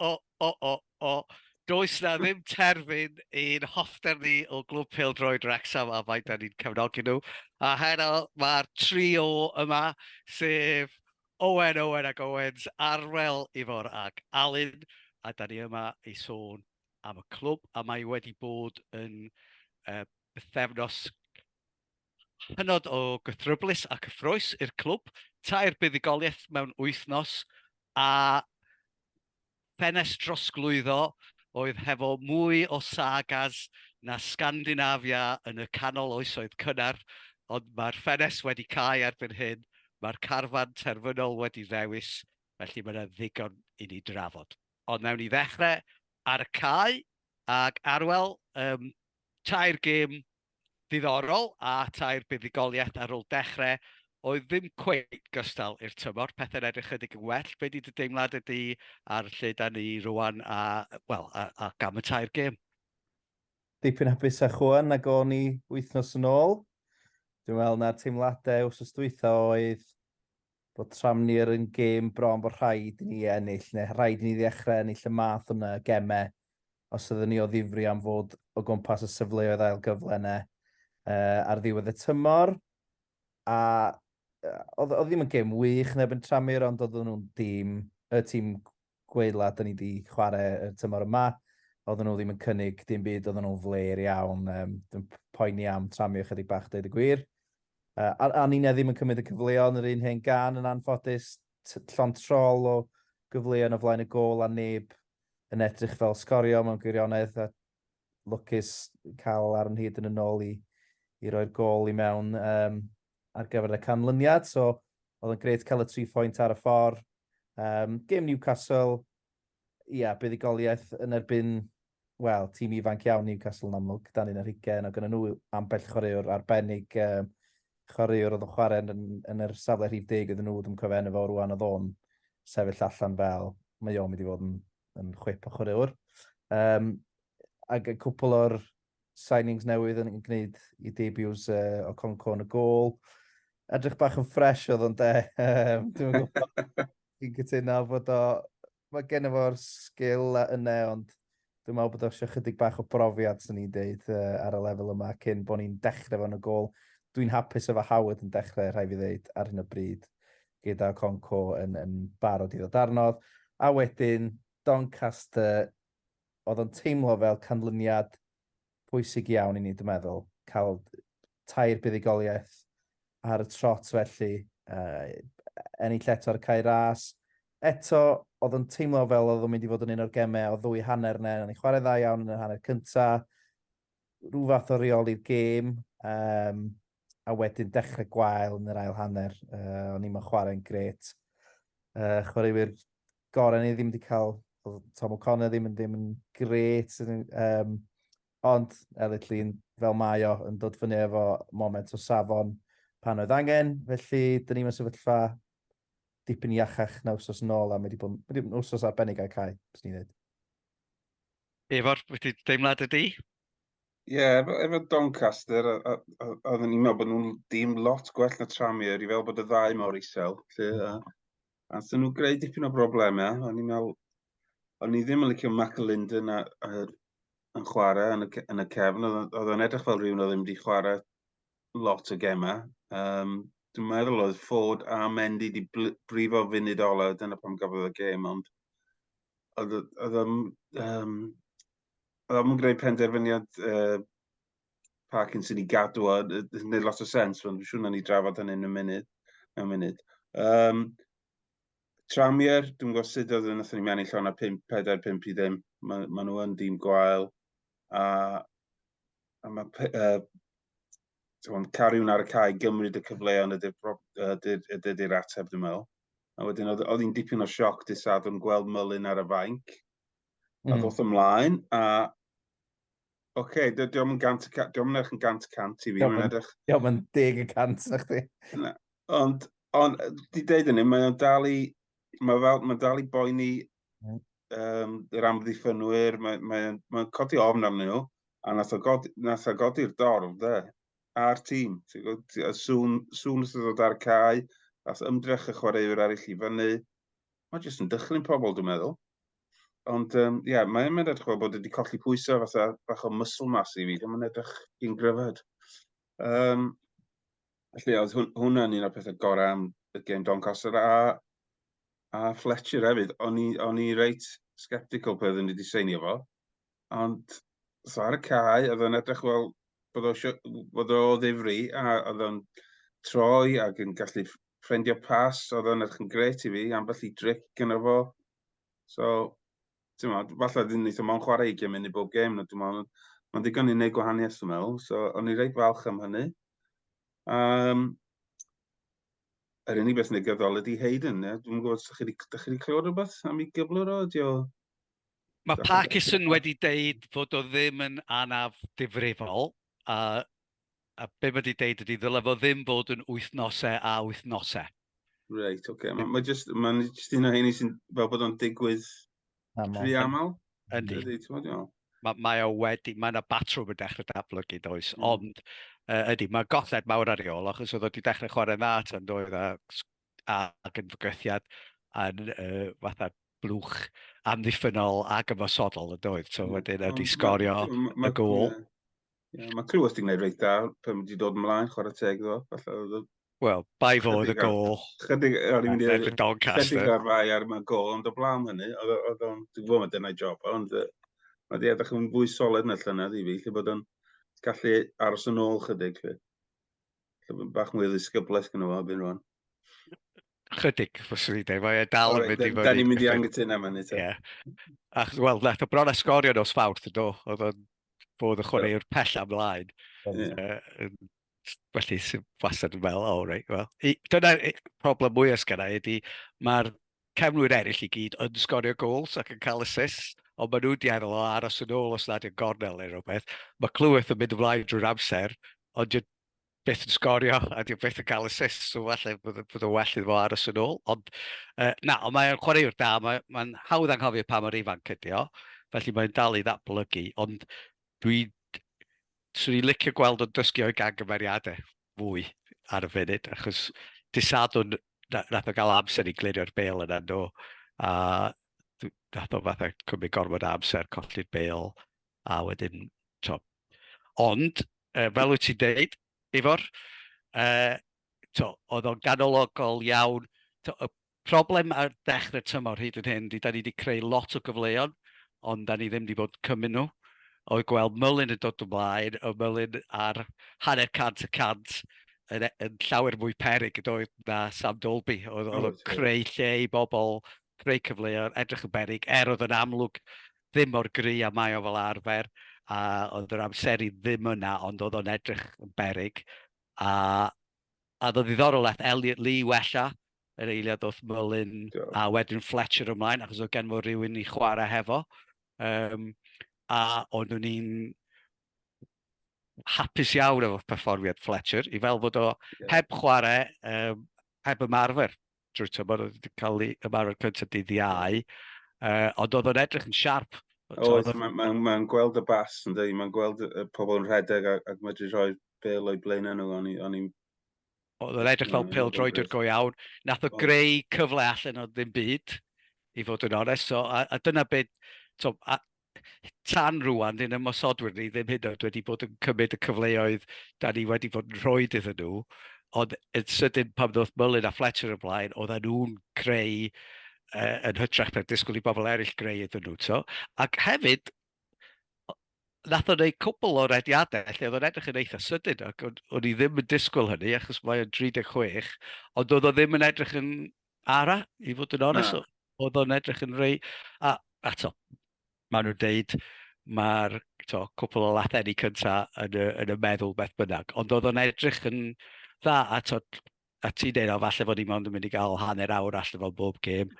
O, o, o, o. Does 'na ddim terfyn i'n hoffter ni o Glwb Pêl-droed Wrecsam a faint 'da ni'n cefnogi nhw. A heno mae'r trio yma, sef Owen, Owen ac Owens, Arwel, Ifor ac Alun, a 'da ni yma i sôn am y clwb a mae wedi bod yn yy bythefnos Hynod o gythryblus a cyffrous i'r clwb, tair buddugoliaeth mewn wythnos a ffenest drosglwyddo oedd hefo mwy o sagas na Sgandinafia yn y canol oesoedd cynnar, ond mae'r ffenest wedi cau erbyn hyn, mae'r carfan terfynol wedi ddewis, felly mae yna ddigon i ni drafod. Ond wnawn ni ddechrau ar y cae ac Arwel, tair gêm ddiddorol a tair buddugoliaeth ar ôl dechrau oedd ddim cweit gystal i'r tymor. Pethau'n edrych chydig yn well. Be di dy deimlad ydy ar lle da ni rwan a, well, a, a gam y tair gêm? Dipyn hapus a chwan na go ni wythnos yn ôl. Dwi'n meddwl na'r teimladau wrth ystwytha oedd bod Tranmere yn gêm bron bod rhaid i ni ennill, neu rhaid i ni ddechrau ennill y math yna o gemau, os ydyn ni o ddifri am fod o gwmpas y sefleoedd ail gyfle yna uh, ar ddiwedd y tymor. A oedd ddim yn gêm wych neb yn Tranmere, ond oedden nhw'n dîm, y tîm gweidla 'da ni 'di chware y tymor yma. Oedden nhw ddim yn cynnig dim byd, oedden nhw'n fler iawn, um, dwi'n poeni am tramio chydig bach dweud y gwir. Uh, a, a ni'n ddim yn cymryd y cyfleon yr un hen gan yn anffodus, llon trol o gyfleon o flaen y gol a neb yn edrych fel sgorio mewn gwirionedd a lwcus cael ar yn hyd yn y nôl i, i roi'r gol i mewn. Um, ar gyfer y canlyniad, so oedd yn gret cael y tri phwynt ar y ffordd. Um, Gêm Newcastle, ia, buddugoliaeth yn erbyn, wel, tîm ifanc iawn Newcastle yn amlwg, dan un ar hugen, ac yn nhw ambell chwaraewr arbennig, um, chwaraewr oedd yn chwarae yn, yn yr safle rhif deg oedd nhw, ddim cofio enw fo rwan oedd o'n sefyll allan fel, mae o'n mynd i fod yn, yn chwip o chwaraewr. Um, ac y cwpl o'r signings newydd yn gwneud i debuts uh, o Conco yn y gol. Edrych bach yn ffres oedd o'n de. Dwi'n gwybod, i'n cytuno bod o... Mae gen i fo'r sgil a yna, ond dwi'n meddwl bod o eisiau chydig bach o brofiad, sy'n ni'n deud, uh, ar y lefel yma, cyn bod ni'n dechrau fo'n y gol. Dwi'n hapus efo Howard yn dechrau, rhai fi ddeud, ar hyn o bryd, gyda Conco yn, yn barod i ddod arnodd. A wedyn, Doncaster, oedd o'n teimlo fel canlyniad pwysig iawn i ni, dwi'n meddwl, cael tair buddugoliaeth ar y trot felly, uh, ennill eto ar cael ras. Eto, oedd o'n teimlo fel oedd o'n mynd i fod yn un o'r gemau o ddwy hanner yna, o'n i'n chwarae dda iawn yn y hanner cyntaf, rhyw fath o reoli'r gêm, um, a wedyn dechrau gwael yn yr ail hanner, uh, o'n i'n chwarae'n gret. Uh, chwaraewyr gore ni ddim wedi cael, oedd Tom O'Connor ddim yn ddim yn gret, um, ond Elliot Llun fel mae o yn dod fyny efo moment o safon pan oedd angen, felly dyn ni'n sefyllfa dipyn iachach na wsos yn ôl a mae wedi bod wedi bod yn wsos arbennig ar cae, bys ni'n dweud. Efo'r wedi deimlad ydi? Ie, yeah, efo, efo Doncaster, oedden ni'n meddwl bod nhw'n dim lot gwell na Tramier, i fel bod y ddau mor isel. Lle, a, A so nhw greu dipyn o broblemau. O'n i'n meddwl, o'n i ddim yn licio Mac y Linden a, a, yn chwarae yn y, yn y cefn. Oedd o'n edrych fel rhywun oedd ddim wedi chwarae lot o gemau. Um, dwi'n meddwl oedd Ford a Mendy wedi brifo funud ola, dyna pam gafodd y gem, ond oedd o'n um, greu penderfyniad uh, Parkinson i gadw o, yn gwneud lot o sens, ond dwi'n siŵr na ni drafod hynny yn y munud. Mewn munud. Um, Tramier, dwi'n gwybod sut oedd yn ethon ni mewn i llawn a 5, 4, 5 i ddim. Mae ma nhw yn dîm gwael. A, a mae uh, Tewan, cariwn ar y cae, gymryd y cyfleon ydy'r ateb, dwi'n meddwl. A wedyn, oedd, oedd hi'n dipyn o sioc dy sadwn gweld Mylun ar y fainc. Mm. A ddoth ymlaen, a Oce, okay, dy- diolch yn gant, y ca- diolch yn edrych yn gant y cant i fi, Diolch mae'n yn- edrych. Diolch yn deg y cant na chdi. Ond, ond, yy, di deud hynny, mae o'n dal i, mae fel, mae'n dal i boeni Mm. um, yr amddiffynwyr, mae'n mae, o'n- mae o'n codi ofn arnyn nhw, a nath o godi, nath o godi'r dorf, de, a'r tîm. Ti'n gwbod, ti- a Sŵn, sŵn wrth ddod ar y cae, nath ymdrech y chwaraewyr arall i fyny. Mae jyst yn dychlyn pobl, dwi'n meddwl. Ond um, yeah, mae'n mynd edrych fel bod wedi colli pwysau fatha bach o muscle mass i fi, ddim yn edrych i'n gryfed. Um, felly, oedd hwn, hwnna'n un o'r pethau gorau am y gêm Doncaster a, a Fletcher hefyd. O'n i, on i reit sceptical pe oeddwn i wedi seinio fo, ond so ar y cae, oedd o'n edrych fel bod o, bod o ddifri a oedd o'n troi ac yn gallu ffrendio pas, oedd o'n edrych yn gret i fi, ambell i dric gyda fo, So, ti'n meddwl, falle ddim ni ddim ond chwarae i gymryd i bob gêm, no, dwi'n meddwl, mae'n ddigon i wneud gwahaniaeth, dwi'n meddwl. So, o'n i reit falch am hynny. Um, yr unig beth negyddol ydy Hayden, ie? Dwi'n gwybod, ydych chi wedi clywed rhywbeth am ei gyflwr o? Ydy o... Mae Parkinson wedi deud fod o ddim yn anaf difrifol, a a be mae di deud ydy, ddylai fo ddim bod yn wythnosau a wythnosau. Reit, oce. Okay. Mae'n ma just, ma just un o heini sy'n fel bod o'n digwydd rhy aml. Yndi. Ydy, ti'n bod iawn. Mae, mae o wedi, mae yna batrwm yn dechrau datblygu, does, mm. ond uh, ydy, mae golled mawr ar ei ôl, achos oedd o wedi dechrau chwarae dda tan doedd a, a, ac yn fygythiad yn uh, fatha blwch amddiffynol ac ymosodol y doedd. So mm. wedyn ydy sgorio y gol. Yeah, mae Clywys ti'n gwneud reit da, pan wedi dod ymlaen, chwarae teg ddo. Wel, bai fod y gol. Chydig ar mynd i'r Doncaster. Chydig ar fai ar yma gol, ond o blaen hynny, oedd o'n, dwi'n gwybod mae dyna'i job, ond mae di edrych yn fwy solid na llynedd i fi, lle bod o'n gallu aros yn ôl chydig. Lle bod bach mwy o ddisgyblaeth gyda fo, fi'n rwan. Chydig, fyswn i'n dweud. Mae e dal yn mynd i fyny. Da ni'n mynd i angytuno yma ni. Ie. Ac, wel, nath o bron a sgorio nos fawrth, do. Oedd o'n bod y chwaraewr pell amlaen. Felly, sy'n wastad yn fel, o, rei, wel. Dyna'r problem mwyaf sgan i, ydy, mae'r cefnwyr eraill i gyd yn sgorio gols ac yn cael assists, ond maen nhw'n diaddol o aros yn ôl os nad yw'n gornel neu rhywbeth. Mae Clyweth yn mynd ymlaen drwy'r amser, ond byth yn sgorio a dyw byth yn cael assist, so falle bod yn well iddo fo aros yn ôl. Ond uh, na, ond mae'n chwaraewr da, mae'n mae hawdd anghofio pa mor ifanc ydi o, felly mae'n dal i ddatblygu, ond dwi, swn i'n licio gweld o'n dysgu o'i gangymeriadau fwy ar y funud, achos disadwn nath o gael amser i glirio'r bel yna nhw, a nath o fatha cymryd gorfod amser, colli'r bel, a wedyn, to, Ond, yy fel wyt ti'n deud, Ifor, yy t'o' oedd o'n ganologol iawn. T'o' y problem ar dechrau tymor hyd yn hyn ydy 'dan ni 'di creu lot o gyfleon, ond 'dan ni ddim 'di bod yn cymryd nhw. Oedd gweld Mullin yn dod ymlaen, oedd Mullin ar hanner cant y cant yn e- yn llawer mwy peryg yn doedd na Sam Dalby. Oedd oedd o'n creu lle i bobl creu cyfleoedd, edrych yn berig, er oedd yn amlwg ddim o'r gry a mae o fel arfer, a oedd yr amseru ddim yna, ond oedd o'n edrych yn berig. A, a ddod ddiddorol ath Elliot Lee wella, yr eiliad oedd Mullin, a wedyn Fletcher ymlaen, achos oedd gen fo rhywun i chwarae hefo. Um, a ond o'n i'n hapus iawn efo perfformiad Fletcher, i fel bod o heb chwarae, um, heb ymarfer. drwy tymor, oedd wedi cael ei ymarfer cyntaf dydd iau, uh, ond oedd o'n edrych yn siarp. Oedd, mae'n ma, ma gweld y bas yn dweud, mae'n gweld y pobl yn rhedeg ac, ac medru rhoi bel o'i blaen nhw, o'n i'n... Oedd o'n edrych fel pel droedr go iawn, nath o greu cyfle allan o ddim byd, i fod yn onest, so, a, a dyna beth, so, a, tan rwan, dyn ymosodwyr ni ddim hyd yn oed wedi bod yn cymryd y cyfleoedd da ni wedi bod yn rhoi iddyn nhw, ond yn sydyn pan ddoth Mullin a Fletcher ymlaen, oedden nhw'n creu uh, yn hytrach na'r disgwyl i bobl eraill greu iddyn nhw. So. Ac hefyd, nath o'n ei cwbl o'r ediadau lle oedd o'n edrych yn eitha sydyn ac o'n, i ddim yn disgwyl hynny achos mae o'n 36 ond oedd o ddim yn edrych yn ara, i fod yn onest, oedd o'n edrych yn rei, a, a to, maen nhw'n deud, mae'r cwpl o latheni cyntaf yn y, yn y meddwl beth bynnag, ond oedd o'n edrych yn dda, a to, a ti'n deud, o, falle fod ni mond yn mynd i gael hanner awr allan o bob gêm,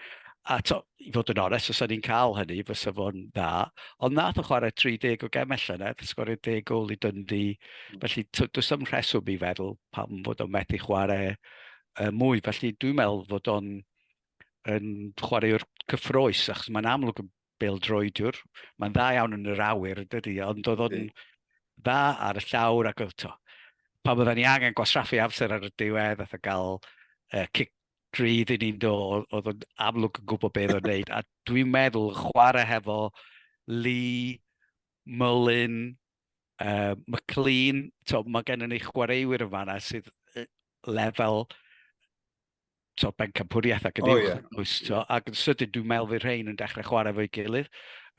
a to, i fod yn onest, os o'n ni'n cael hynny, fysa fo'n dda. Ond nath o chwarae 30 o gem allan, nath sgorio 10 gol i dyndi. Felly, does am rheswm i feddwl pam fod o'n methu chwarae uh, mwy. Felly dwi'n meddwl fod o'n yn chwaraewr cyffroes, achos mae'n amlwg yn bel droediwr. Mae'n dda iawn yn yr awyr, dydy, ond oedd o'n dda ar y llawr ac oedd to. Pa bod ni angen gwasraffu amser ar y diwedd, oedd gael uh, cic drydd i ni'n do, oedd o'n amlwg yn gwybod beth o'n neud. A dwi'n meddwl chwarae hefo Lee, Mullin, uh, McLean, to, mae gennym ni chwaraewyr yn fanna sydd lefel to, bencampwriaeth ac yn oh, uwch, yeah. oes, to, ac yn sydyn dwi'n meddwl fydd rhain yn dechrau chwarae fo'i gilydd,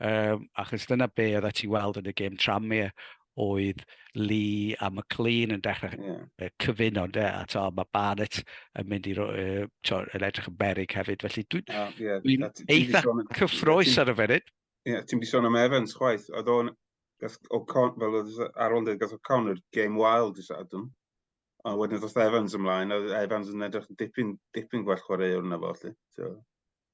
um, achos dyna be oedd ti weld yn y gêm Tranmere, oedd Lee a McLean yn dechrau yeah. cyfuno, de, a to, mae Barnett yn mynd i roi, to, yn edrych yn berig hefyd, felly dwi'n oh, yeah. dwi eitha cyffroes ar y funud. Ie, yeah, ti'n di sôn am Evans chwaith, oedd o'n gath O'Con, fel oedd Arol dweud, gath O'Connor game wild i Sadwn. A wedyn ddoth Evans ymlaen, a Evans yn edrych yn dipyn, dipyn gwell chwaraewr yna fo, lli. So,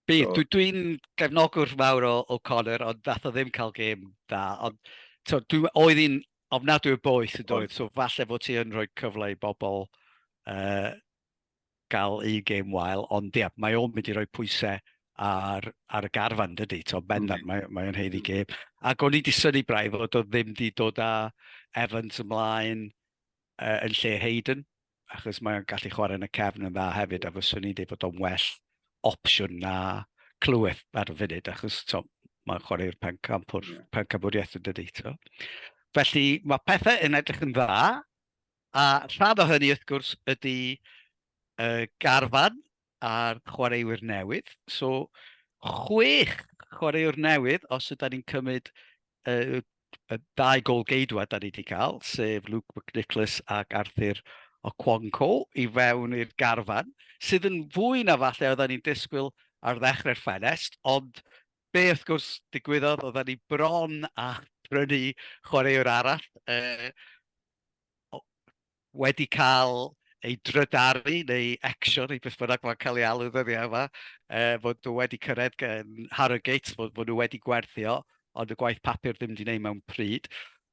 Bydd, so. dwi'n gefnogwr mawr o O'Connor, ond ddath o ddim cael gêm da. Ond so, dwi, oedd hi'n ofnadwy o boeth yn dweud, so falle fod ti yn rhoi cyfle i bobl uh, gael un gêm wael, ond ia, mae o'n mynd i roi pwysau ar, ar y garfan, dydy, to bendant, mm. mae, mae o'n heiddi mm. gêm. Ac o'n i wedi syni braidd fod o ddim wedi dod â Evans ymlaen uh, yn lle Hayden, achos mae'n gallu chwarae yn y cefn yn dda hefyd, a fyswn i'n dweud bod o'n well opsiwn na clywed ar y funud, achos to, mae'n chwarae'r pencampwriaeth yn dydy. To. Felly mae pethau yn edrych yn dda, A rhan o hynny, wrth gwrs, ydy y garfan a'r chwaraewyr newydd. So, chwech chwaraewr newydd, os ydy'n ni'n cymryd y, y dau gol geidwa da ni wedi cael, sef Luke McNicholas ac Arthur Okwonko i fewn i'r garfan, sydd yn fwy na falle oedden ni'n disgwyl ar ddechrau'r ffenest, ond be wrth gwrs digwyddodd, oedden ni bron a prynu chwaraewr arall, e, wedi cael ei drydaru neu ecsio neu beth bynnag mae'n cael ei alw ddyddiau yma, uh, fod nhw wedi cyrraedd gen Harrogate, fod, fod nhw wedi gwerthio, ond y gwaith papur ddim wedi gwneud mewn pryd,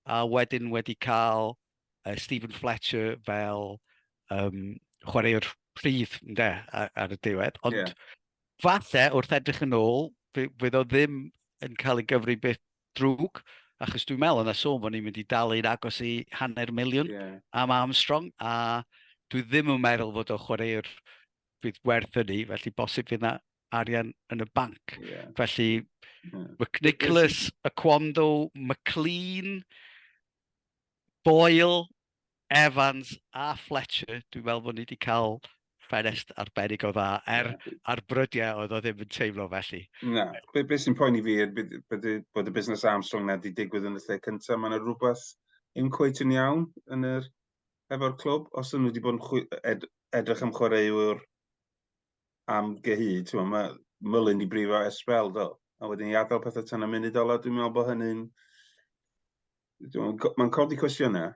a wedyn wedi cael uh, Stephen Fletcher fel um, chwaraewr prif ynde, ar, ar y diwedd. Ond yeah. falle wrth edrych yn ôl, fydd o ddim yn cael ei gyfri beth drwg, achos dwi'n meddwl yna sôn bod ni'n mynd i dalu'n agos i hanner miliwn yeah. am Armstrong, a dwi ddim yn meddwl fod o chwaraewr fydd werth hynny, felly bosib fydd yna arian yn y banc. Yeah. Felly, yeah. McNicholas, Aquando, McLean, Doyle, Evans a Fletcher, dwi'n meddwl bod ni wedi cael ffenest arbennig o dda, er ar brydiau oedd o ddim yn teimlo felly. Na, be, be sy'n poeni fi er bod, bod y busnes Armstrong na wedi digwydd yn y lle cyntaf, mae yna rhywbeth yn cweit yn iawn yn yr, efo'r clwb, os nhw wedi bod yn chwi, ed, edrych am chwaraewr am gyhyd, ti'n mae Mullin di brifo es spel, do. A wedyn i adael pethau tan y munud ola, dwi'n meddwl bod hynny'n... Mae'n codi cwestiynau.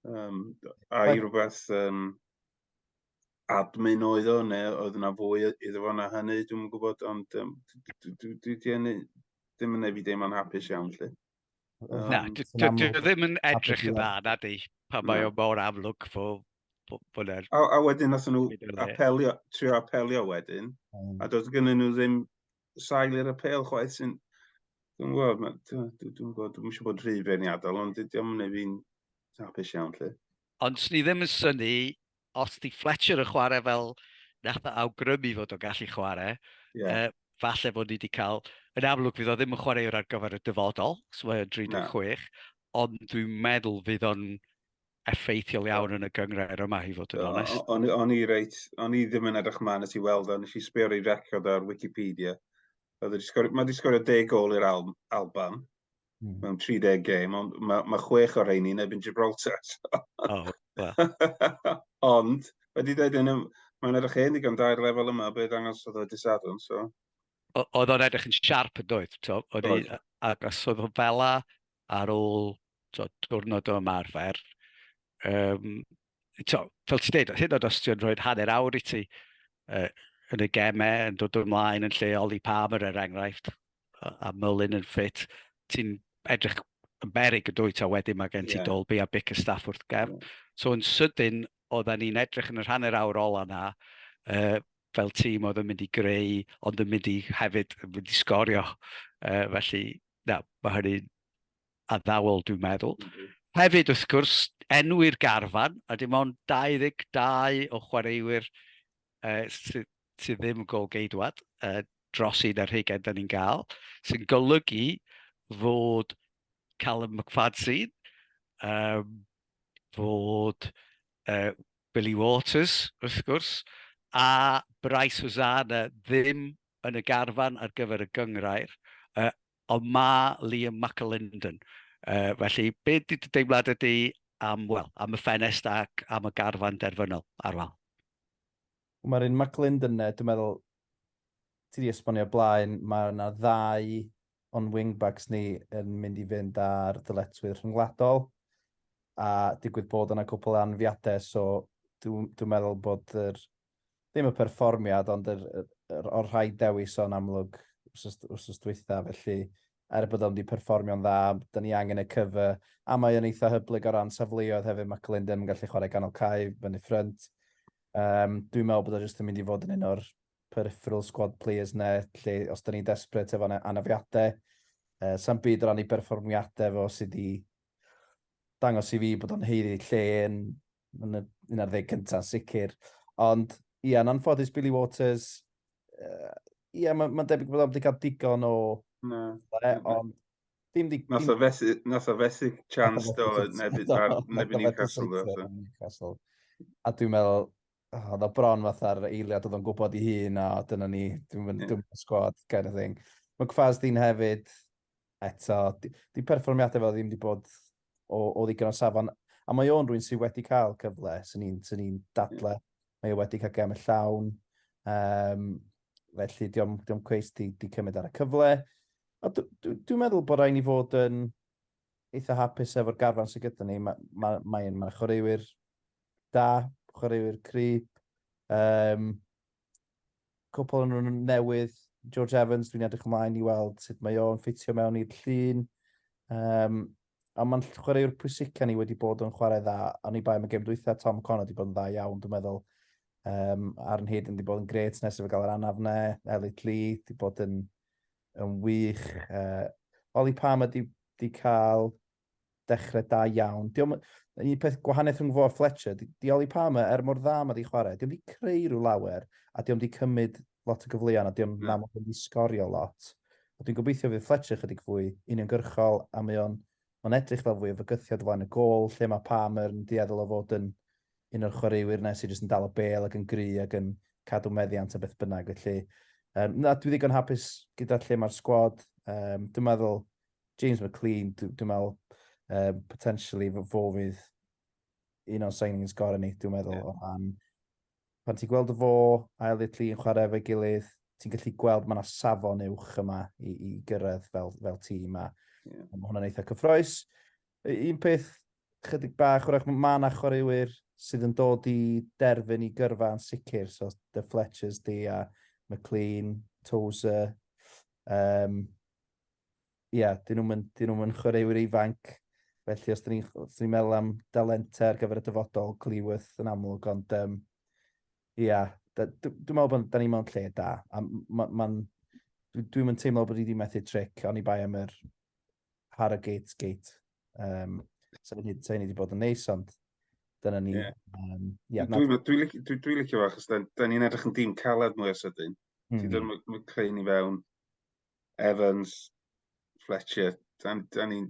Um, a i rhywbeth um, admin oedd o, neu oedd yna fwy iddo fo na hynny, dwi'n gwybod, ond um, dwi ddim yn ei fi deimlo'n hapus iawn, lle. Na, dwi ddim yn edrych yn dda, na di, pa mae o mor amlwg fo bod er... A, a wedyn nath nhw apelio, trio apelio wedyn, mm. a doedd gynnu nhw ddim sail i'r apel chwaith sy'n... Dwi'n gwybod, dwi'n gwybod, dwi'n eisiau bod rhy feirniadol, ond dydy o'n mynd fi'n hapus iawn, lle. Ond swn i ddim yn syni os di Fletcher yn chwarae fel nath o awgrymu fod o'n gallu chwarae, yeah. uh, falle fod ni wedi cael, yn amlwg fydd o ddim yn chwaraewr ar gyfer y dyfodol, so mae'n 36, ond dwi'n meddwl fydd o'n effeithiol iawn yn y gyngrair yma, i fod yn onest. O'n i reit, o'n i ddim yn edrych man at i weld o, nes i sbio ar ei record ar Wikipedia. Mae wedi sgorio deg gol i'r Alban. Hmm. mewn 30 gêm, ond mae, mae chwech o'r rheini yn ebyn Gibraltar. oh, well. ond, wedi dweud yn ym, mae'n edrych hen ddigon dair lefel yma, beth angos oedd o disadwn, so. Oedd o'n edrych yn siarp yn dweud, to, oedd i, ac os oedd o'n fela ar ôl to, diwrnod o ymarfer, um, to, fel ti'n dweud, hyn oed os ti'n rhoi hanner awr i ti uh, yn y gemau, yn dod ymlaen yn lle Oli Palmer er enghraifft, a, a Mullin yn ffit, ti'n edrych yn berig yn dwyt, a wedyn mae gen ti yeah. Dolby a Bic y staff wrth gefn. Yeah. So yn sydyn, oedden ni'n edrych yn yr hanner awr ola na, uh, fel tîm oedd yn mynd i greu, ond yn mynd i hefyd yn mynd i sgorio. Uh, felly, na, mae hynny'n addawol, dwi'n meddwl. Mm -hmm. Hefyd, wrth gwrs, enwi'r garfan, a dim ond 22 o chwaraewyr uh, sydd sy ddim yn gol geidwad uh, dros un ar hugen da ni'n gael, sy'n golygu fod Callum McFadzean, um, fod uh, Billy Waters, wrth gwrs, a Bryce Hosanna ddim yn y garfan ar gyfer y gyngrair, uh, ond mae Liam McAlinden. Uh, felly, be di dy deimlad ydy am, well, am y ffenest ac am y garfan derfynol ar wal? Mae'r un McAlinden yna, dwi'n meddwl, ti wedi esbonio blaen, mae yna ddau o'n wingbacks ni yn mynd i fynd ar ddyletwydd rhyngwladol a digwydd bod yna cwpl anfiadau, so dwi'n dwi meddwl bod yr ddim y perfformiad, ond yr, yr, yr, o'r rhaid dewis o'n amlwg wrth dwytha, felly er bod o'n di perfformio'n dda, da ni angen y cyfa, a mae o'n eitha hyblyg o ran safleoedd hefyd, mae Glyndon yn gallu chwarae ganol cae, fyny ffrynt. Um, dwi'n meddwl bod o jyst yn mynd i fod yn un o'r peripheral squad players ne, lle os da ni'n desbryd efo anafiadau, uh, sa'n byd o ran i berfformiadau fo sydd wedi dangos i fi bod o'n heiddi lle yn yn y un ar ddeg cyntaf, sicr. Ond, ie, yn anffodus Billy Waters, uh, ie, yeah, mae'n ma debyg bod o'n wedi cael digon o... Na. E, ond... Dim di... Nath o fethu, nath o fethu chance do, neb i Newcastle do. Newcastle. A dwi'n meddwl, oh, oedd o bron fatha'r eiliad oedd o'n gwybod i hun a dyna ni, dwi'n mynd yeah. dwi'n sgwad, kind of thing. Mae Cfaz di'n hefyd, eto, di, di perfformiadau fel ddim wedi bod o, o ddigon o safon. A mae o'n rwy'n sydd wedi cael cyfle, sy'n ni'n sy ni dadle. Mae o wedi cael gem y llawn. Um, felly, diolch diom cweith di, di cymryd ar y cyfle. A dwi'n dwi meddwl bod rhaid ni fod yn eitha hapus efo'r garfan sydd gyda ni. Mae'n ma, ma, ma, ma chwaraewyr da, chwaraewyr cryb. Um, cwpwl o nw'n yn newydd George Evans dwi'n edrych ymlaen i weld sut mae o'n ffitio mewn i'r llun. Um, a mae'n chwaraewr pwysica ni wedi bod yn chwarae dda, a ni bai mae gêm dwytha Tom Connor wedi bod yn dda iawn, dwi'n meddwl. Um, Aaron Hayden wedi bod yn gret nes i fe gael yr anaf ne, Elliot Lee wedi bod yn, yn wych. Uh, Oli Palmer wedi, wedi cael Dechrau da iawn. Diolch, yn un peth gwahaniaeth rhwng fo a Fletcher, di Oli Palmer, er mor dda mae di chwarae, diolch di creu rhyw lawer, a diolch di cymryd lot o gyfleon, a diolch mm. na mod wedi sgorio lot. A dwi'n gobeithio fydd Fletcher chydig fwy uniongyrchol, a mae o'n on edrych fel fwy o fygythiad flaen y gol, lle mae Palmer yn dieddol o fod yn un o'r chwaraewyr nes i jyst yn dal o bel ac yn gry ac yn cadw meddiant a beth bynnag. Felly, um, na, dwi ddigon hapus gyda lle mae'r sgwad. Um, dwi'n meddwl James McLean, dwi, dwi meddwl, um, potentially fo fydd un o'n signings gorau ni, dwi'n meddwl, yeah. o ran. Pan ti'n gweld y fo, ail i'r yn chwarae efo'i gilydd, ti'n gallu gweld mae yna safon uwch yma i, i gyrraedd fel, fel tîm a yeah. mae hwnna'n eitha cyffroes. Un peth chydig bach, wrach mae yna chwaraewyr sydd yn dod i derfyn i gyrfa yn sicr, so The Fletchers di a McLean, Tozer, um, ie, yeah, dyn nhw'n mynd, dyn nhw'n chwaraewyr ifanc. Felly os dyn ni'n ni, ni meddwl am dalentau ar gyfer y dyfodol, Cleworth yn amlwg, ond ie, um, yeah, dwi'n meddwl bod da ni mewn lle da. A ma, ma dwi'n mynd teimlo bod i wedi methu tric, ond i bai am yr Harrogate gate. Um, so ni wedi bod yn neis, ond dyna ni. Yeah. Um, yeah, dwi'n dwi, dwi, dwi, dwi licio fach, achos da, da ni'n edrych yn dim caled mwy o sydyn. Mm. Ti'n dod, mae creu ni fewn, Evans, Fletcher, da, da ni'n...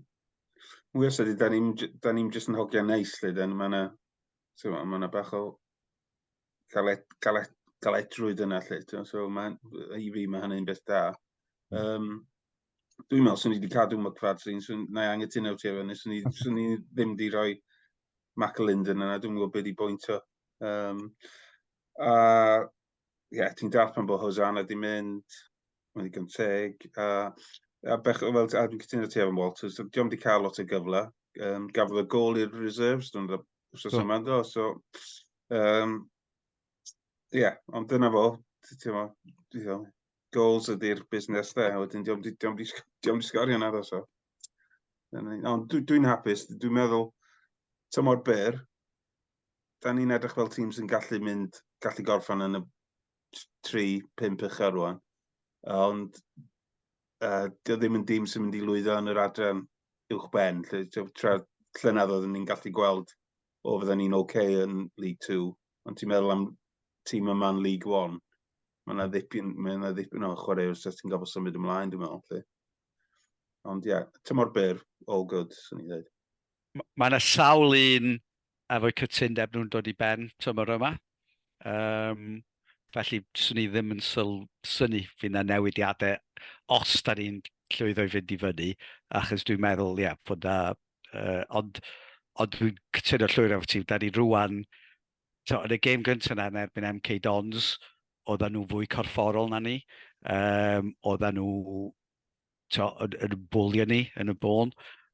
Mwy o sydyn, da ni'n da ni jyst yn hogiau neis lle, da ni, mae yna, mae yna bach o galet, galet, galedrwydd yna lle, so mae, i fi mae hynny'n beth da. Um, dwi'n meddwl, swn i wedi cadw McFadrin, swn, na i angytuno ti efo ni, swn i, swn i ddim wedi rhoi Mac Linden yna, dwi'n gwybod beth i bwynt o. Um, a ie, yeah, ti'n dall pan bod Hosanna di mynd, mae'n ddigon teg, a, a bech, fel, a dwi'n cytuno ti efo Walters, diolch wedi cael lot o gyfle, um, gafodd y gol i'r reserves, dwi'n dweud, wrth yma do, so, um, ie, yeah, ond dyna fo, ti'n mo, goals ydy'r busnes dde, wedyn diolch wedi sgorio na ddo, so. Ond dwi'n hapus, dwi'n meddwl, tymor byr, da ni'n edrych fel tîm sy'n gallu mynd, gallu gorffan yn y 3-5 uchel rwan. Ond uh, dio ddim yn dîm sy'n mynd i lwyddo yn yr adran uwch ben. Lle, tra llynedd oeddwn ni'n gallu gweld o fydden ni'n oce okay yn League 2. Ond ti'n meddwl am tîm yma'n League 1. Mae yna ddipyn, mae yna ddipyn o chwarae os ti'n gofod symud ymlaen, dwi'n meddwl. Lle. Ond ie, yeah, tymor byr, all good, sy'n ni ddweud. Mae yna sawl un efo'u cytundeb nhw'n dod i ben tymor yma. Um, felly, swn i ddim yn syl, syni fy na newidiadau os da ni'n llwyddo i fynd i fyny, achos dwi'n meddwl, ia, bod da... Uh, ond ond dwi'n cytuno llwyr efo ti, da ni rwan, to, yn y gêm gyntaf yna yn erbyn MK Dons, oedden nhw fwy corfforol na ni, um, oedden nhw to, yn, yn bwlio ni yn y bôn,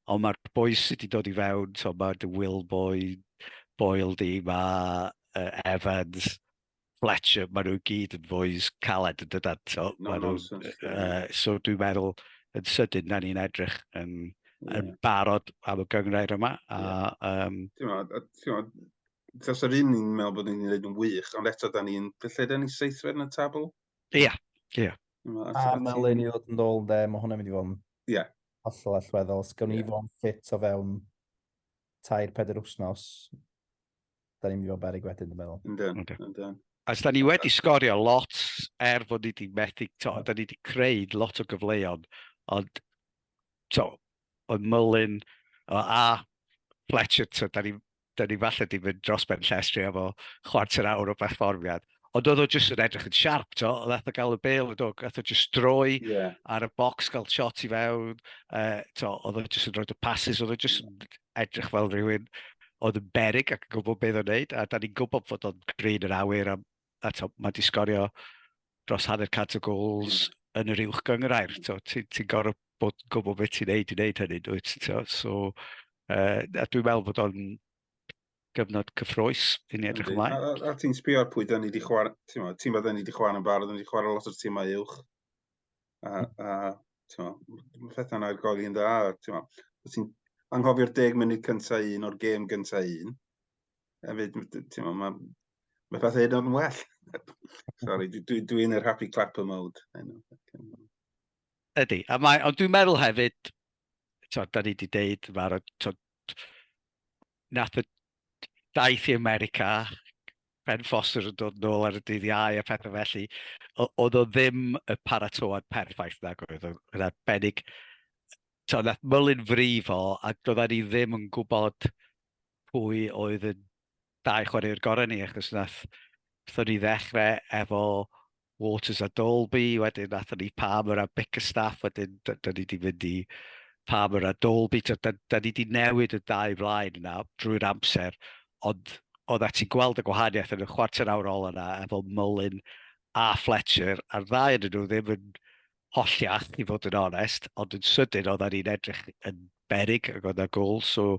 ond mae'r boys sydd wedi dod i fewn, to, mae dy Will Boy, Boyle di, mae uh, Evans, Fletcher, maen nhw gyd yn boys caled yn dydan. So, no, no, nhw, uh, so dwi'n meddwl yn sydyn na ni'n edrych yn, yeah. yn barod am y gyngrair yma. A, yeah. um, ti'n Tros yr un ni'n meddwl bod ni'n gwneud yn wych, ond eto da ni'n... Lle da ni seithfed yn y tabl? Ie, yeah. ie. Yeah. A Melin i ddod yn ôl de, mae hwnna'n mynd i fod yn yeah. hollol allweddol. Os gawn ni yeah. fod yn ffit o fewn tair peder wythnos, da ni'n mynd i fod berig wedyn, dwi'n meddwl. Yndyn, okay. yndyn. As da ni wedi sgorio lot er fod ni wedi methu, to, da ni wedi creu lot o gyfleoedd, ond to, oedd Mullin a Fletcher, to, da ni da ni falle di mynd dros ben llestri am o chwarter awr o berfformiad. Ond oedd o jyst yn edrych yn siarp, to. Oedd eto gael y bel, oedd o eto jyst droi yeah. ar y box, gael shot i fewn. Uh, to, oedd o jyst yn rhoi y passes, oedd o jyst yn edrych fel rhywun oedd yn berig ac yn gwybod beth o'n neud. A da ni'n gwybod fod o'n grin yr awyr am a to, mae di sgorio dros hanner cant o gols mm. yn yr uwch gyngrair. Ti'n ti gorau bod yn gwybod beth ti'n neud i wneud hynny, dwyt? To, so, uh, a dwi'n meddwl bod o'n gyfnod cyffroes i ni edrych ymlaen. A, a, a ti'n sbio ar pwy da ni wedi chwarae, ti'n meddwl da ni wedi chwarae yn barod, da ni wedi chwarae lot o'r tîmau uwch. A, a mae pethau'n argoli yn dda. Ti'n anghofio'r deg munud cyntaf un o'r gêm gyntaf un. hefyd, ti'n meddwl, mae, mae pethau hyd o'n well. Sorry, dwi'n dwi, dwi yn yr happy clapper mode. Ydy, a mae, ond dwi'n meddwl hefyd, to, da ni wedi deud, mae'r, to, nath y daith i America, Ben Foster yn dod nôl ar y dydd iau a pethau felly, oedd o ddim y paratoad perffaith na gwyd, oedd arbennig, to, nath mylyn frifo, a doedden ni ddim yn gwybod pwy oedd y dau chwaraewr gorau ni, achos nath, wrthon ni ddechrau efo Waters a Dolby, wedyn nath ni Palmer a Bickerstaff, wedyn da, da ni wedi mynd i Palmer a Dolby, da, da, da ni wedi newid y dau flaen yna drwy'r amser, ond oedd at i gweld y gwahaniaeth yn y chwarter awr ol yna efo Mullin a Fletcher, a'r ddau yn nhw ddim yn holliach, i fod yn onest, ond yn sydyn oedd ni'n edrych yn berig ac oedd na gol, so,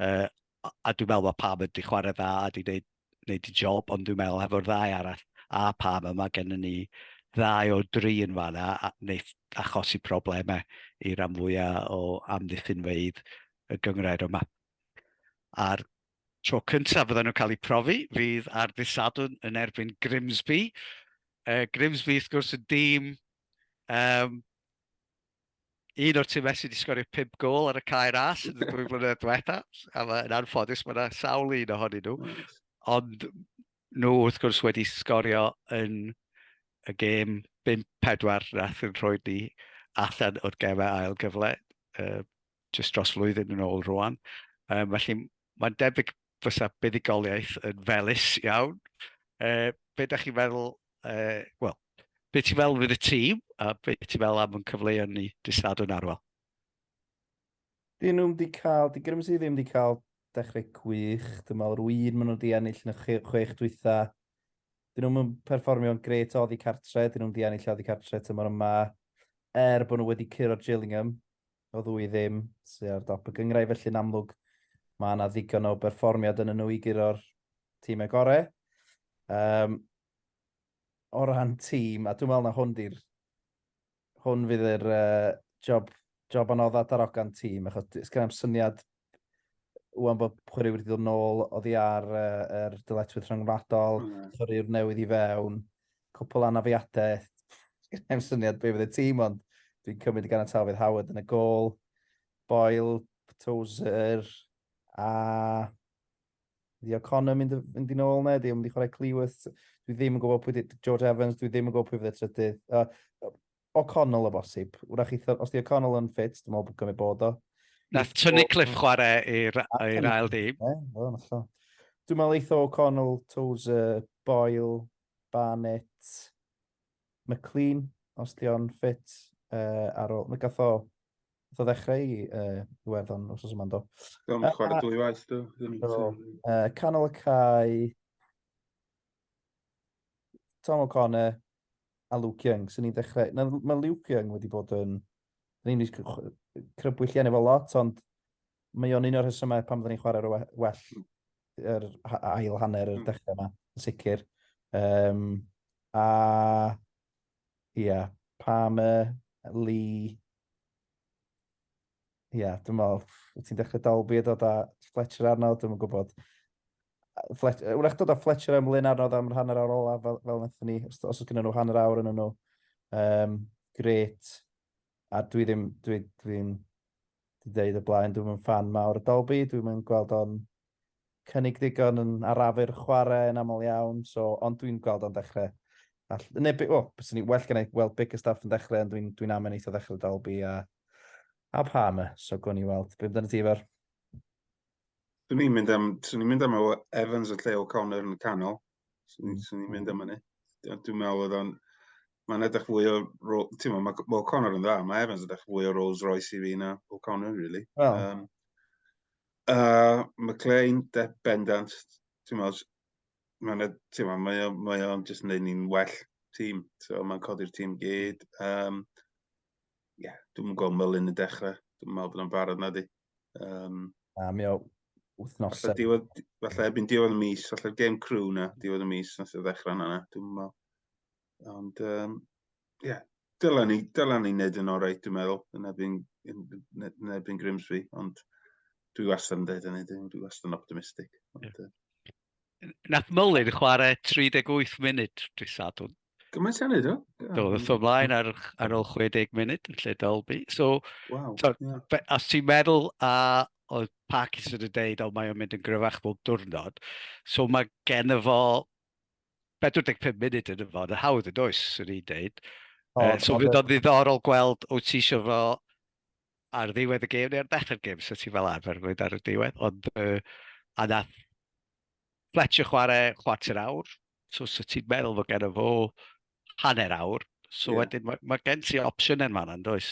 uh, a dwi'n meddwl mae Pam wedi chwarae dda a wedi gwneud, gwneud y job, ond dwi'n meddwl efo'r ddau arall a Pam yma gennym ni ddau o dri yn fanna a wneud achosi problemau i ran fwyaf o amddiffynfeydd y gyngrair yma. A'r Tro cyntaf fyddan nhw'n cael eu profi fydd ar ddydd Sadwrn yn erbyn Grimsby. Uh, Grimsby, wrth gwrs, y dîm um, un o'r tîmau sydd wedi sgorio 5 gol ar y cae ras yn y ddwy flynedd diwetha, a yn anffodus mae yna sawl un ohonyn nhw, ond nhw wrth gwrs wedi sgorio yn y gêm 5-4 nath yn rhoi ni allan o'r gemau ail gyfle. Uh, jyst dros flwyddyn yn ôl rwan. Um, felly mae'n debyg fysa buddugoliaeth yn felus iawn. Uh, be da chi'n meddwl, uh, wel, be ti'n meddwl fydd y tîm a be ti'n meddwl am yn cyfleu ni disadwn arwel? Dyn nhw'n di cael, di Grimsey ddim wedi cael dechrau gwych. Dwi'n meddwl rwy'n un maen nhw wedi ennill yn y chwech dwytha. Dyn nhw'n perfformio'n gret o oddi cartre, dyn nhw'n di ennill oddi cartre tymor yma. Er bod nhw wedi curo Gillingham, o ddwy ddim sydd ar dop y gyngrau, felly'n amlwg mae yna ddigon o berfformiad yn y nhw i guro'r tîmau gorau. Um, o ran tîm, a dwi'n meddwl na hwn di'r... Hwn fydd yr uh, job, job anodd at arogan tîm, achos ysgrifennu'n syniad Wan bod chwarae wedi dod nôl oddi ar uh, er dyletwydd rhyngwladol, mm. chwaraewr newydd i fewn, cwpl anafiadau, Gynna'n syniad beth fydd y tîm ond dwi'n cymryd gan y tafydd Howard yn y gol, Boyle, Tozer a Ddi O'Connor mynd, mynd i'n ôl na, di o'n mynd i chwarae Cleworth. Dwi ddim yn gwybod pwy di, George Evans, dwi ddim yn gwybod pwy fydd y trydydd. Uh, O'Connell o bosib. Wrach i, os di O'Connell yn ffit, dwi'n meddwl bod gymryd bod o. Na, tynnu Cliff chwarae i'r ail dîm. Dwi'n meddwl eitho O'Connell, Tozer, Boyle, Barnett, McLean, os di o'n ffit uh, ar ôl. Mae gath o, gath o ddechrau i uh, werddon os oes yma'n do. Dwi'n chwarae dwy waith do. Uh, canol y cae, Tom O'Connor a Luke Young, sy'n ni'n dechrau... Na, mae Luke Young wedi bod yn... Ni'n ni'n crybwyll gen efo lot, ond mae o'n un o'r hysymau pan fydden ni'n chwarae'r well yr ail hanner yr hmm. dechrau yma, yn sicr. Um, a, ia, yeah, Palmer, Lee, ia, yeah, dwi'n meddwl, ti'n dechrau Dalby a dod a Fletcher arno, dwi'n gwybod. Flet, wrach dod â Fletcher am Lyn arnodd am hanner awr olaf fel, fel wnaethon ni, os, os oes gyda nhw hanner awr yn nhw. Um, gret. A dwi ddim, dwi, dwi'n dwi dweud y blaen, dwi'n mynd fan mawr y Dolby, dwi'n mynd gweld o'n cynnig digon yn arafu'r chwarae yn aml iawn, so, ond dwi'n gweld o'n dechrau. All, neu, o, oh, bys ni well gennau weld big y staff yn dechrau, ond dwi'n dwi amen eitha ddechrau Dolby a, a Palmer, so gwn i weld. Beth amdano ti efo'r Swn i'n mynd am, swn i'n mynd am o Evans y lle o Connor yn y canol. Swn mm. i'n mynd am hynny. Dwi'n meddwl oedd o'n... Mae'n edrych fwy o... Ti'n meddwl, mae well, Connor yn dda. Mae Evans yn edrych fwy o Rolls Royce i fi na o Connor, really. Well. Um, uh, McLean, de, bendant. Ti'n meddwl, mae'n ti'n meddwl, mae o'n mae o'n just neud ni'n well tîm. So, mae'n codi'r tîm gyd. Um, yeah, dwi'n gweld Mylun yn dechrau. Dwi'n meddwl bod o'n barod na di. Um, a mi o wythnos... Falle, diwedd, falle erbyn diwedd y mis, falle gêm crew na, diwedd y mis, nath o ddechrau yna, dwi'n meddwl. Ond, ie, um, yeah, dylen ni, dylen ni wneud yn orau, dwi'n meddwl, yn erbyn, yn, yn erbyn Grimsby, ond dwi wastad yn dweud hynny, dwi wastad yn optimistig. Ond, yeah. Nath Mullin chwarae 38 munud dwi sadwn. Gymaint hynny, do? Do, ddoth o mlaen ar, ar ôl 60 munud yn lle Dolby. So, wow, so yeah. be, os ti'n meddwl a oedd Parkinson yn deud, o mae o'n mynd yn gryfach bob diwrnod, so mae gen y fo 45 munud yn y fo, yn hawdd yn oes, yn i'n deud. Oh, uh, so fydd o'n ddiddorol gweld, wyt ti eisiau fo ar ddiwedd y gêm neu ar ddechrau'r gêm, so ti fel arfer yn mynd ar y diwedd, ond uh, a nath Fletcher chwarae chwarter awr, so so ti'n meddwl fod gen fo hanner awr, so yeah. wedyn mae, mae gen ti opsiwn yn fanna, does?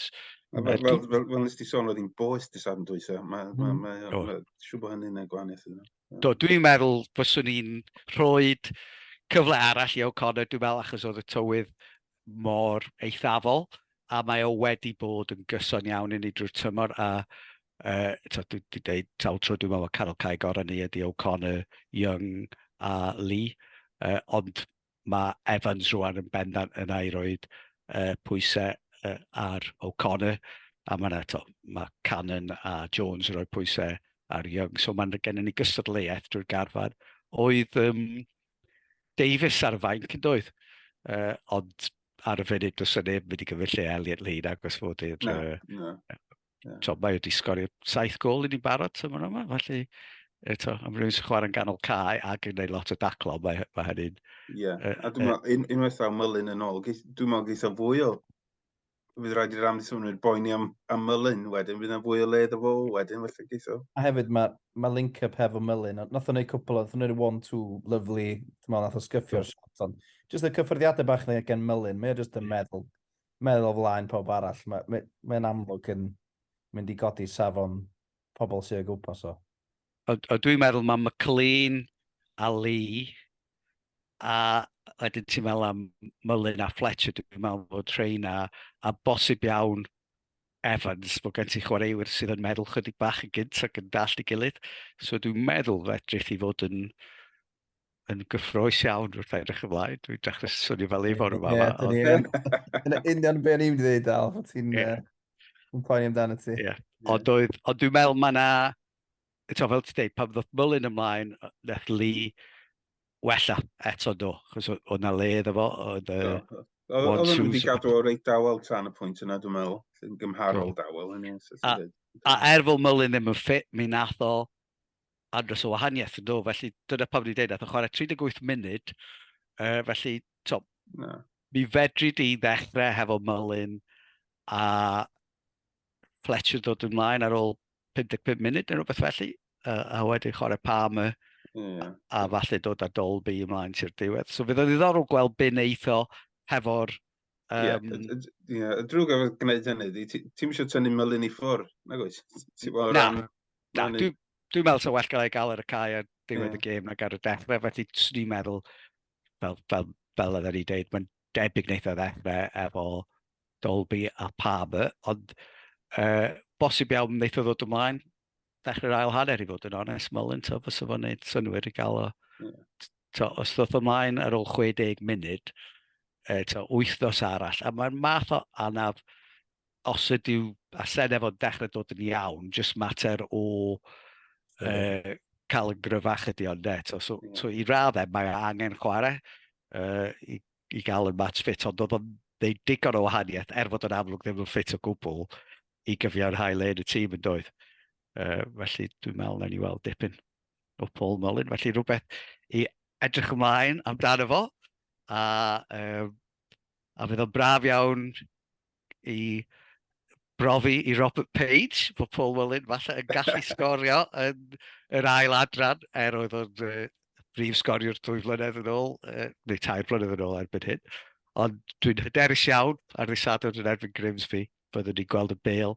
A fel, fel, fel, fel nes ti sôn, oedd hi'n boes dy safn dwysa. Mae, mae, mm. mae, mae, mae siw bod hynny'n gwahaniaeth yna. Do, dwi'n meddwl fyswn i'n rhoi cyfle arall i O'Connor, dwi'n meddwl achos oedd y tywydd mor eithafol a mae o wedi bod yn gyson iawn i ni drwy'r tymor a uh, to, dwi wedi dweud sawl tro dwi'n meddwl Carol Cae gorau ni ydy O'Connor, Young a Lee uh, ond mae Evans rwan yn bendant yn ei roed uh, pwysau uh, ar O'Connor a mae yna to, mae Cannon a Jones yn rhoi pwysau ar Young so mae'n gennym ni gystadleuaeth drwy'r garfan oedd um, Davies ar y fainc yn doedd, uh, ond ar y funud does yna neb wedi gymryd lle Elliot Lee na, gos fod i'r... No, no. Yeah. So, mae wedi sgorio saith gol i ni'n barod yma yma, felly eto, am rhywun sy'n chwarae'n ganol cae ac yn gwneud lot o daclo, mae, mae hynny'n... Ie, yeah. a dwi'n meddwl, unwaith ddaw Myllin yn ôl, dwi'n meddwl geitha fwy o fydd rhaid i'r amddiffynwyr boeni am, am Mullin wedyn, fydd yna fwy o le iddo fo wedyn, felly geitho. A hefyd mae ma link-up hefo Mullin, nath o'n gwneud cwpl o, nath o'n gwneud one-two lyflu, ti'n meddwl, nath o sgyffio'r hmm. shot, ond jyst y cyffyrddiadau bach na gen Mullin, mae o jyst yn hmm. meddwl, meddwl flaen pawb arall, mae'n mae, mae amlwg yn mynd i godi safon pobl sy'n ei gwmpas o. O, o dwi'n meddwl mae McLean a Lee a wedyn ti'n meddwl am Mullin a Fletcher, dwi'n meddwl bod Treina a bosib iawn Evans, bod gen ti chwaraewyr sydd yn meddwl chydig bach yn gynt ac yn dall i gilydd. So dwi'n meddwl fedrith i fod yn yn gyffroes iawn wrth edrych ymlaen. Dwi'n dechrau swnio fel ei fod yma. Yn union beth ni'n dweud, Al, bod ti'n poeni amdano ti. Ond dwi'n meddwl mae yna, eto fel ti'n dweud, pan ddod mylun ymlaen, neth li wella eto do, chos oedd yna le iddo fo. Oedd yna wedi gadw o'r reit dawel tan y pwynt yna, dwi'n meddwl, yn gymharol dawel. A er fod mylun ddim yn ffit, mi nath o andros o wahaniaeth yn dod, felly dyna pam ni'n dweud, nath o chwarae 38 munud, uh, felly, to, no. mi fedri di ddechrau hefo Mullin a Fletcher dod ymlaen ar ôl 55 munud neu rhywbeth felly, uh, a wedyn chwarae Palmer, yeah. a, a falle dod â Dolby ymlaen ti'r diwedd. So fydd o'n ddiddorol gweld byn eitho hefo'r Ie, Um, y y drwg efo gwneud hynny ydi ti ti'm isio tynnu Mullin i ffwr', nag wyt? Ti fel o Na, ran Na, rannu dwi, dwi'n meddwl sa well gael ei gael ar y cae ar ddiwedd Ie. y gêm nag ar y dechrau, felly swn i'n meddwl, fel, fel, fel oedden ni'n deud, mae'n debyg wneud o ddechrau efo Dolby a Palmer, ond uh, bosib iawn wneud o ddod ymlaen, dechrau'r ail hanner i fod yn onest, Mullin, to, fes o'n gwneud synwyr i gael o. To, os ddoth ymlaen ar ôl 60 munud, e, to, wythnos arall, a mae'r math o anaf, os ydyw a senef o'n dechrau dod yn iawn, jyst mater o uh, cael yn gryfach ydy ond de. To, so, to, i raddau, mae angen chwarae uh, i i gael yn match fit, ond oedd o'n ddeud digon o wahaniaeth, er fod yn amlwg ddim yn ffit o gwbl, i gyfiawnhau le yn y tîm yn doedd. Uh, felly dwi'n meddwl na ni weld dipyn o Paul Mullin, felly rhywbeth i edrych ymlaen amdano fo, a, um, a fydd o'n braf iawn i brofi i Robert Page, bod Paul Mullin falle yn gallu sgorio yn yr ail adran, er oedd o'n uh, brif sgoriwr dwy flynedd yn ôl, uh, neu tair flynedd yn ôl erbyn hyn. Ond dwi'n hyderus iawn ar ddisadwrn yn erbyn Grimsby, byddwn ni'n gweld y bel